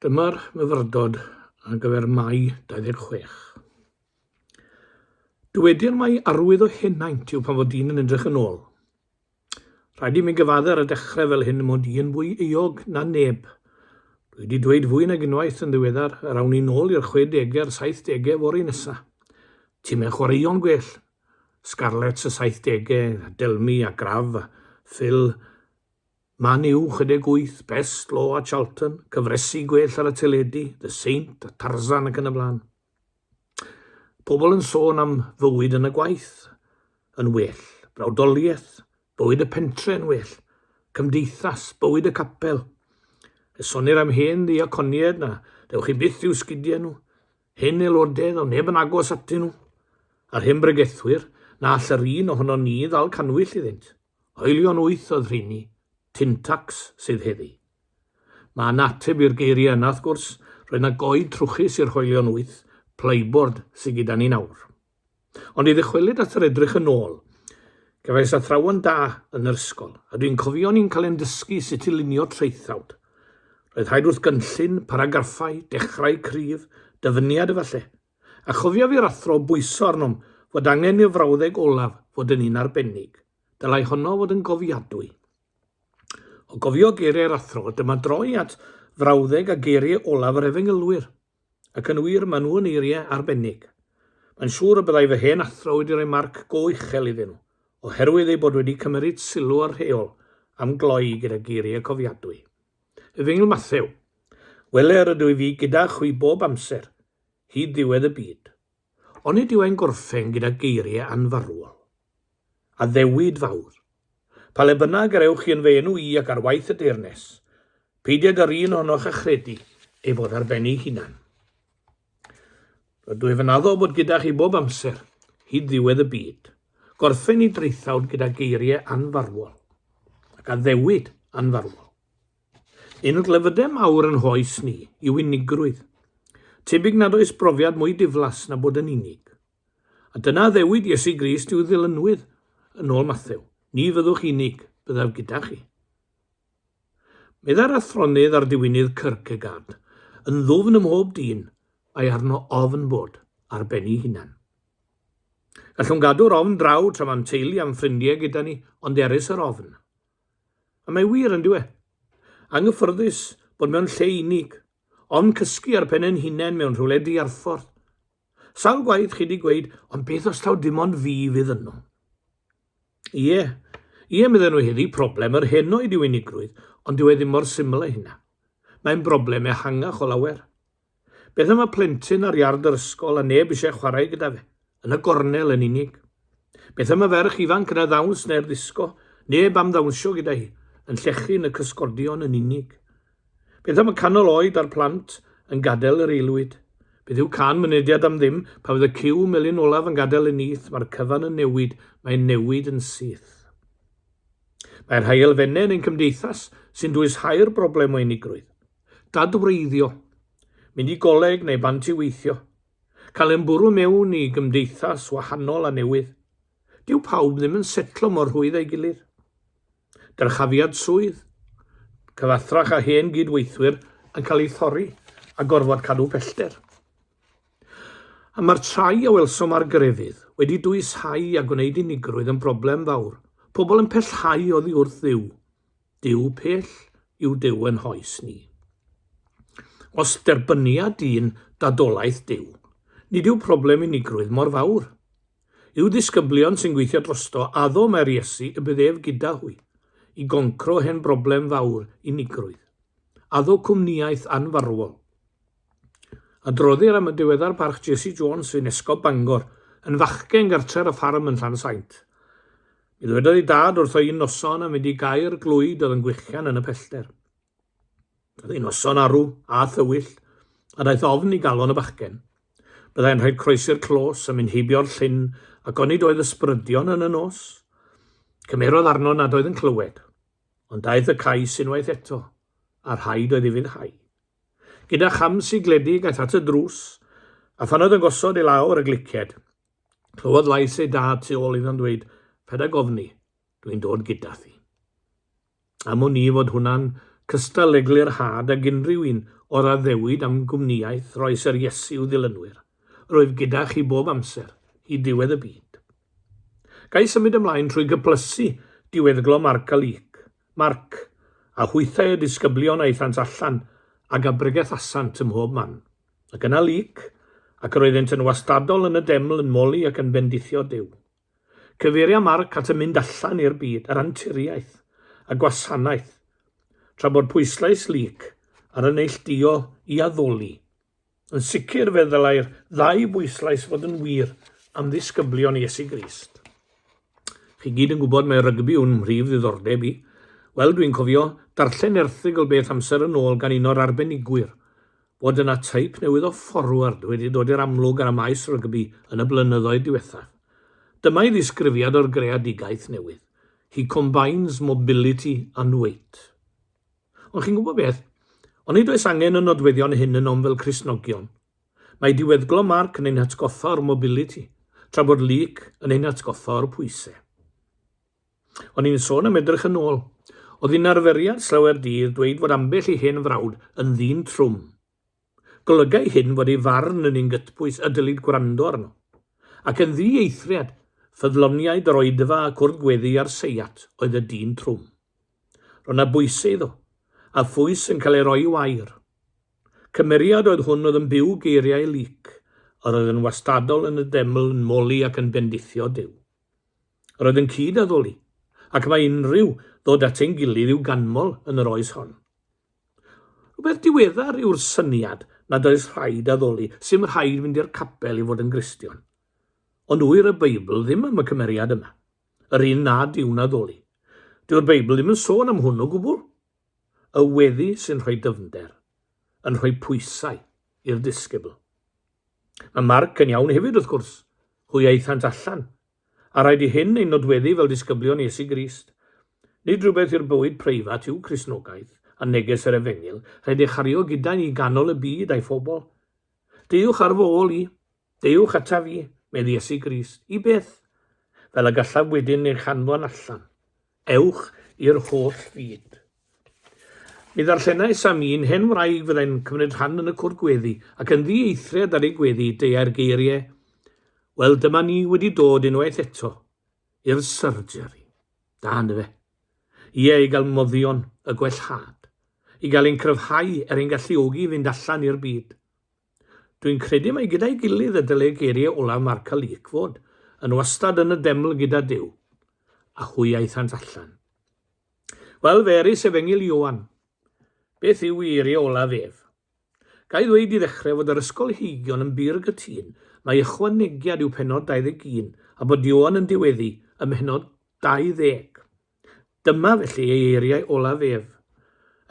Dyma'r myfyrdod ar gyfer Mai 26. Dywedir mai arwydd o henaint yw pan fod dyn yn edrych yn ôl. Rhaid i mi gyfadde ar y dechrau fel hyn mod i yn fwy euog na neb. Dwi wedi dweud fwy nag unwaith yn ddiweddar yr awn ni nôl i'r 60au a'r 70au fory nesa. Timau chwaraeon gwell. Scarlets y 70au, Delmi a Graf a Phil Man U 68, Best Law a Charlton, cyfresi gwell ar y teledu, The Saint a Tarzan ac yn y blaen. Pobl yn sôn am fywyd yn y gwaith yn well, brawdoliaeth, bywyd y pentre yn well, cymdeithas, bywyd y capel. Esonir am hen ddiaconiaid na dewch chi byth i'w sgidiau nhw, hen aelodedd o neb yn agos atyn nhw, a'r hen bregethwyr na all yr un ohono ni ddal canwyll iddynt. Haelion wyth oedd rheini, Tyntax sydd heddi. Mae yna ateb i'r geiriau yna wrth gwrs, roedd yna goed trwchus i'r hoelion wyth, playboard sy gyda ni nawr. Ond i ddychwelyd at yr edrych yn ôl, cefais athrawon da yn yr ysgol, a dwi'n cofio ni'n cael ein dysgu sut i lunio traethawd. Roedd rhaid wrth gynllun, paragraffau, dechrau cryf, dyfyniad efallai, A chofiaf i'r athro bwyso arnom fod angen i'r frawddeg olaf fod yn un arbennig. Dylai honno fod yn gofiadwy. O gofio geiriau'r athro, dyma droi at frawddeg a geiriau olaf yr efengylwyr. Ac yn wir, maen nhw yn eiriau arbennig. Mae'n siŵr y byddai fy hen athro wedi rhoi marc go uchel iddyn nhw, oherwydd eu bod wedi cymeryd sylw o'r rheol am gloi gyda geiriau cofiadwy. Efengyl Mathew. Wele, rydw i fi gyda chwi bob amser. hyd ddiwedd y byd. Onid yw e'n gorffen gyda geiriau anfarwol? Addewid fawr. Pa le bynnag yr ewch chi yn fy enw i ac ar waith y deyrnes, peidio ag yr un ohonoch a chredu ei fod ar ben ei hunan. Rydw i fy naddo bod gyda chi bob amser, hyd ddiwedd y byd. Gorffen i draethawd gyda geiriau anfarwol ac addewid anfarwol. Un o glefydau mawr yn hoes ni yw unigrwydd. Tebyg nad oes brofiad mwy diflas na bod yn unig. A dyna addewid Iesu Grist i'w ddilynwyr, yn ôl Mathew, Ni fyddwch unig, byddaf gyda chi. Meddai'r athronydd a'r diwinydd Kierkegaard, yn ddwfn ym mhob dyn, mae arno ofn bod ar ben ei hunan. Gallwn gadw'r ofn draw tra mae'n teulu a'n ffrindiau gyda ni, ond erys yr ofn. A mae wir, yn dyw e? Anghyffyrddus bod mewn lle unig, ond cysgu ar pen ein hunain mewn rhywle diarffordd. Sawl gwaith chi di gweud, ond beth os taw dim ond fi fydd yno? Ie, ie, medden nhw heddi, problem yr henoed yw unigrwydd, ond dyw e ddim mor syml â hynna. Mae'n broblem ehangach o lawer. Beth am y plentyn ar iard yr ysgol a neb eisiau chwarae gyda fe? Yn y gornel yn unig. Beth am y ferch ifanc yn y ddawns neu'r ddisgo? Neb am ddawnsio gyda hi, yn llechu yn y cysgodion yn unig. Beth am y canol oed a'r plant yn gadael yr aelwyd? Beth yw can mynediad am ddim? Pan fydd y cyw melyn olaf yn gadael y nyth, mae'r cyfan yn newid, mae'n newid yn syth. Mae rhai elfennau yn ein cymdeithas sy'n dwys hau'r broblem o unigrwydd. dadwreiddio, mynd i goleg neu bant i weithio, cael e'n bwrw mewn i gymdeithas wahanol a newydd. Dyw pawb ddim yn setlo mor rhwydd â'i gilydd. Dyrchafiad swydd, cyfathrach a hen gyd-weithwyr yn cael ei thorri a gorfod cadw pellter. A mae'r trai a welsom ar grefydd wedi dwyshau a gwneud unigrwydd yn broblem fawr. Pobl yn pellhau oddi wrth dduw Duw pell yw Duw yn hoes ni. Os derbynia dyn dadolaeth Duw, nid yw problem unigrwydd mor fawr. Yw disgyblion sy'n gweithio drosto addo mae'r Iesu y bydd ef gyda hwy, i goncro hen broblem fawr unigrwydd. Addo cwmniaeth anfarwol. Adroddir am y diweddar parch Jessie Jones sy'n Esgob Bangor, yn fachgen gartref a ffarm yn Llansaint. Mi ddywedodd ei dad wrtho un noson am fynd i gau'r glwyd oedd yn gwichian yn y pellter. Oedd ei noson arw a thywyll, a daeth ofn i galon y bachgen. Byddai'n rhaid croesi'r clos a mynd heibio'r llyn ac onid oedd ysbrydion yn y nos? Cymerodd arno nad oedd yn clywed, ond daeth y cais unwaith eto, a rhaid oedd i fyddhau. Gyda cham sigledig aeth at y drws, a phan oedd yn gosod i lawr y gliced, clywodd lais ei dad tu ôl iddo'n dweud, Paid â gofni, dwi'n dod gyda thi. Am wn i fod hwnna'n cystal le glirhad ag unrhyw un o'r addewid am gwmnïaeth roi Syr Iesu i'w ddilynwyr, Rwyf gyda chi bob amser, hyd diwedd y byd. Gai symud ymlaen trwy gyplysu diweddglo Marc a Luc, Marc, A hwythau y disgyblion aethant allan ag a bregethassant ym mhob man. Ac yna Luc, Ac yr oeddent yn wastadol yn y deml yn moli ac yn bendithio Duw. Cyfeiria Marc at y mynd allan i'r byd, yr anturiaeth, y gwasanaeth, tra bod pwyslais Luc ar y neillduo i addoli. Yn sicr fe ddylai'r ddau bwyslais fod yn wir am ddisgyblion Iesu Grist. Chi gyd yn gwybod mae rygbi yw'n mhrif ddiddordeb i. Wel, dwi'n cofio darllen erthygl beth amser yn ôl gan un o'r arbenigwyr, bod yna type newydd o fforward wedi dod i'r amlwg ar y maes rygbi yn y blynyddoedd diwethaf. Dyma'i ddisgrifiad o'r greadigaeth newydd, He combines mobility and weight. Ond chi'n gwybod beth? Onid oes angen y nodweddion hyn ynom fel Cristnogion? Mae diweddglo Marc yn ein hatgoffa o'r mobility, tra bod Luc yn ein hatgoffa o'r pwysau. O'n i'n sôn am edrych yn ôl. Oedd hi'n arferiad slawer dydd dweud fod ambell i hen frawd yn ddyn trwm Golygai hyn fod ei farn yn un gytbwys y dylid gwrando arno, ac yn ddi-eithriad, ffyddloniaid yr oedfa a cwrdd gweddi a'r seiat oedd y dyn trwm. Roedd na bwyse iddo, a phwys yn cael ei roi i wair. Cymeriad oedd hwn oedd yn byw geiriau Luc, yr oedd yn wastadol yn y deml yn moli ac yn bendithio Duw. Yr oedd yn cyd-addoli, ac mae unrhyw ddod at ein gilydd i'w ganmol yn yr oes hon. Rhywbeth diweddar yw'r syniad nad oes rhaid addoli, sy'm rhaid fynd i'r capel i fod yn Gristion. Ond ŵyr y Beibl ddim am y cymeriad yma, yr un nad yw'n addoli. Dyw'r Beibl ddim yn sôn am hwn o gwbl. Y weddi sy'n rhoi dyfnder, yn rhoi pwysau i'r disgybl. Mae Marc yn iawn hefyd, wrth gwrs, hwy aethant allan, A rhaid i hyn ein nodweddu fel disgyblion Iesu Grist. Nid rhywbeth i'r bywyd preifat yw Cristnogaeth, a neges yr Efengyl, rhaid ei chario gyda'i i ganol y byd a'i phobl. Deuwch ar fy ôl i. Deuwch ata fi, medd Iesu Grist. I beth? Fel y gallaf wedyn eich anfon allan. Ewch i'r holl fyd. Mi ddarllenai Sam un hen wraig fyddai'n cymryd rhan yn y cwr gweddi, ac yn ddieithriad ar ei gweddi, deuai'r geirie, Wel, dyma ni wedi dod unwaith eto i'r surgery. Da, yndyfe? Ie, i gael moddion y gwellhad, i gael ein cryfhau er ein galluogi i fynd allan i'r byd. Dwi'n credu mai gyda'i gilydd y dylai geiriau olaf Marka Leek fod, Yn wastad yn y deml gyda Duw. A hwy aethant allan. Wel, fe eris efengyl Ioan. Beth yw i eiriau olaf ef? Gai ddweud i ddechrau fod yr ysgolheigion yn bur gytun mai ychwanegiad yw pennod 21 a bod Ioan yn diweddu ym mhennod 20. Dyma felly ei eiriau olaf ef,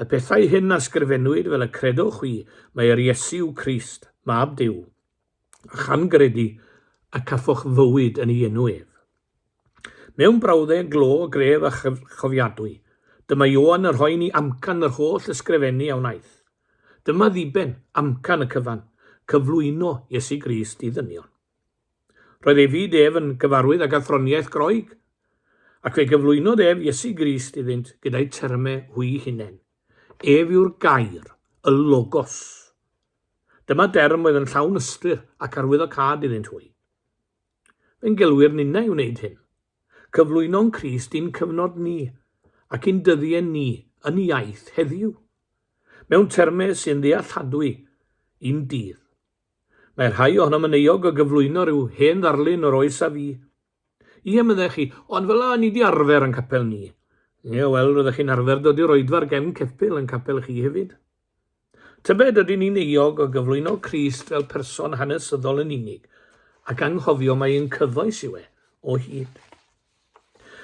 Y pethau hyn a sgrifennwyd fel y credwch chwi, mae yr Iesu yw Crist, Mab Duw, a chan gredu y cafoch fywyd yn ei enw ef. Mewn brawddeg glo, gref a chofiadwy, dyma Ioan yn rhoi ni amcan yr holl ysgrifennu a wnaeth. Dyma ddiben, amcan y cyfan, cyflwyno Iesu Grist i ddynion. Roedd ei fyd ef yn gyfarwydd ag athroniaeth Groeg, ac fe gyflwynodd ef Iesu Grist iddynt gyda'u terme hwy hunain. Ef yw'r Gair, y Logos. Dyma derm oedd yn llawn ystyr ac arwyddocâd iddynt hwy. Fe'n gelwir ninna i wneud hyn. Cyflwyno'n Crist i'n cyfnod ni ac i'n dyddie ni yn iaith heddiw, mewn terme sy'n ddealladwy i'n dydd. Mae rhai ohonom yn euog o gyflwyno rhyw hen ddarlun o'r oes a fu. Ie, meddech chi, ond fel y'a ni 'di arfer yn capel ni. Ie, wel, roeddech chi'n arfer dod i'r oedfa ar gefn ceffyl yn capel chi hefyd. Tybed ydyn ni'n euog o gyflwyno Crist fel person hanesyddol yn unig, ac anghofio mai ein cyfoes yw e, o hyd?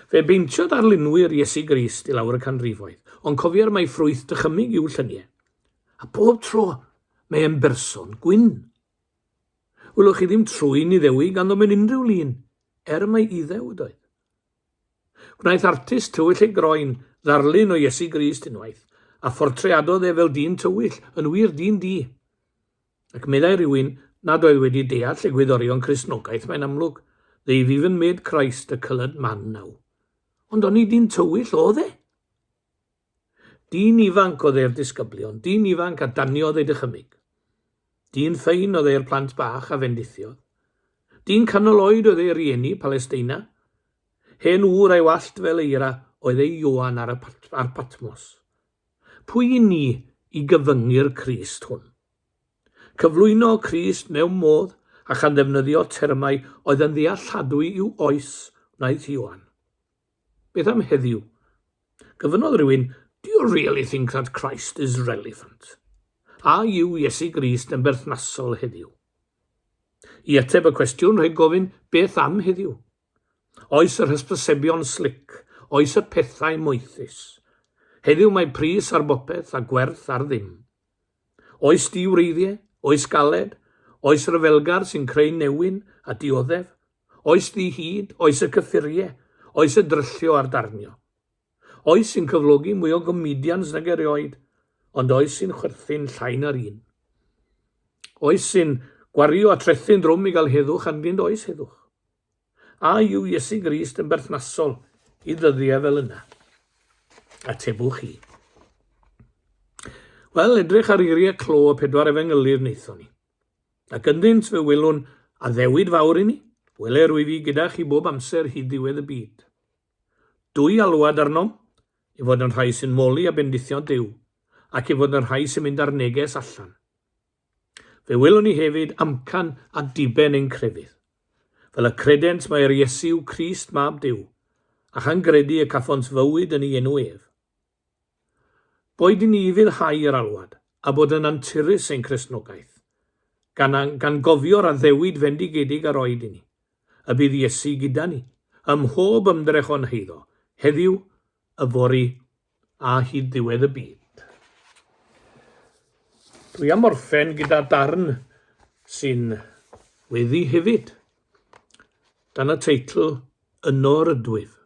Fe beintio darlunwyr Iesu Grist i lawr y canrifoedd, ond cofier mai ffrwyth dychymyg yw llynie. A bob tro, mae e'n berson gwyn. Wylwch chi ddim trwyn Iddewi ganddo mewn unrhyw lun, er mai Iddew ydoedd. Gwnaeth artist tywyll ei groen ddarlun o Iesu Grist unwaith, a phortreadodd e fel dyn tywyll, yn wir, dyn di. Ac meddai rhywun nad oedd wedi deall egwyddorion Cristnogaeth, mae'n amlwg, They've even made Christ a coloured man now. Ond oni dyn tywyll oedd e? Dyn ifanc oedd e'r disgyblion, dyn ifanc a daniodd ei dychymyg. Dyn ffein oedd e'r plant bach a fendithiodd. Dyn canol oed oedd ei rieni, Palesteina. Hen ŵr a'i wallt fel eira oedd ei Ioan ar, y pat, ar Patmos. Pwy i ni i gyfyngu'r Crist hwn? Cyflwyno Crist mewn modd a chan ddefnyddio termau oedd yn ddealladwy i'w oes wnaeth Ioan. Beth am heddiw? Gofynnodd rhywun, Do you really think that Christ is relevant? A yw Iesu Grist yn berthnasol heddiw? I ateb y cwestiwn rhaid gofyn, beth am heddiw? Oes yr hysbysebion slic, oes y pethau moethus. Heddiw mae pris ar bopeth a gwerth ar ddim. Oes diwreiddiau, oes galed, oes ryfelgar sy'n creu newyn a dioddef, oes ddi-hid, oes y cyffuriau, oes y dryllio a'r darnio. Oes sy'n cyflogi mwy o gomedians nag erioed, ond oes sy'n chwerthin llai na'r un. Oes sy'n gwario a trethu'n drwm i gael heddwch anddynt oes heddwch. A yw Iesu Grist yn berthnasol i ddyddiau fel yna? Atebwch chi. Wel, edrych ar eiriau clo y pedwar efengylydd wnaethon ni. Ac ynddynt fe welwn addewid fawr i ni, wele rwyf i gyda chi bob amser hyd ddiwedd y byd. Dwy alwad arnom, i fod yn rhai sy'n moli a bendithio Duw, ac i fod yn rhai sy'n mynd â'r neges allan. Fe welwn ni hefyd amcan a diben ein crefydd. Fel y credent mae yr Iesu yw Crist mab Duw, a chan gredu y cafont fywyd yn ei enw ef. Boed yn ufudd hau yr alwad, a bod yn anturus ein Cristnogaeth, gan angangofio'r addewid fendigedig a roed i ni, y bydd Iesu gyda ni, ym mhob ymdrech o'n heiddo, heddiw, yfory, a hyd ddiwedd y byd. Dwi am orffen gyda darn sy'n weddi hefyd, dan y teitl Yno Rydwyf.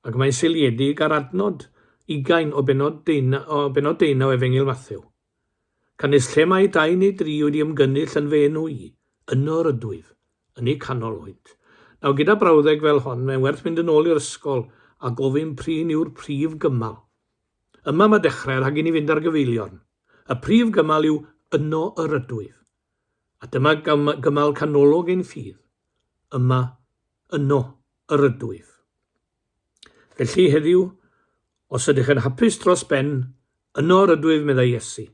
Ac mae'n seiliedig ar adnod ugain o bennod deunaw Efengyl Mathew, canys lle mae dau neu dri wedi ymgynnull yn fy enw i, yno yr ydwyf, yn eu canol hwynt. Nawr, gyda brawddeg fel hon, mae'n werth mynd yn ôl i'r ysgol a gofyn prin yw'r prif gymal. Yma mae dechrau rhag i ni fynd ar gyfeiliorn. Y prif gymal yw yno yr ydwyf. A dyma gymal canolog ein ffydd. Yma, yno, yr ydwyf. Felly, heddiw, os ydych yn hapus dros ben, yno yr ydwyf, meddai Iesu.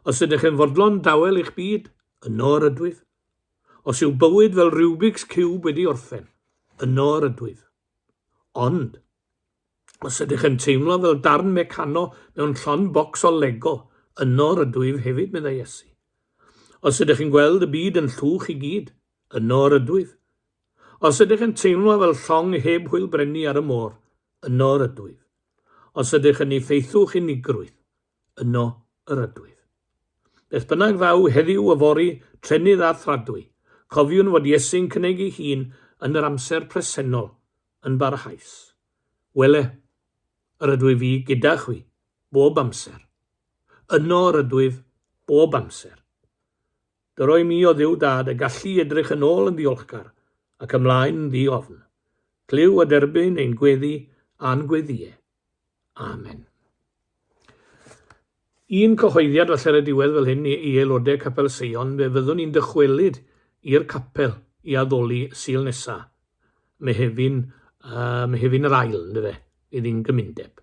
Os ydych yn fodlon dawel eich byd, yno yr ydwyf. Os yw bywyd fel Rubik's Cube wedi orffen, yno yr ydwyf. Ond, os ydych yn teimlo fel darn mecano mewn llon bocs o Lego, yno yr ydwyf hefyd, meddai Iesu. Os ydych yn gweld y byd yn llwch i gyd, Yno yr ydwyf. Os ydych yn teimlo fel llong heb hwyl breni ar y môr, yno yr ydwyf. Os ydych yn effeithiwch unigrwydd, yno yr ydwyf. Beth bynnag ddaw heddiw yfory, trennydd a thradwy, cofiwn fod Iesu'n cynnig ei hun yn yr amser presennol yn barhaus. Wele, yr ydwyf i gyda chwi, bob amser. Yno yr ydwyf, bob amser. Dy roi mi, o Dduw Dad, y gallu i edrych yn ôl yn ddiolchgar ac ymlaen yn ddi-ofn. Clyw a derbyn ein gweddi a'n gweddïau. Amen. Un cyhoeddiad falle ar y diwedd fel hyn i, i aelodau Capel Seion, fe fyddwn ni'n dychwelyd i'r capel i addoli Sul nesa, Mehefin, uh, Mehefin yr Ail, ynddo fe, fydd hi'n gymundeb.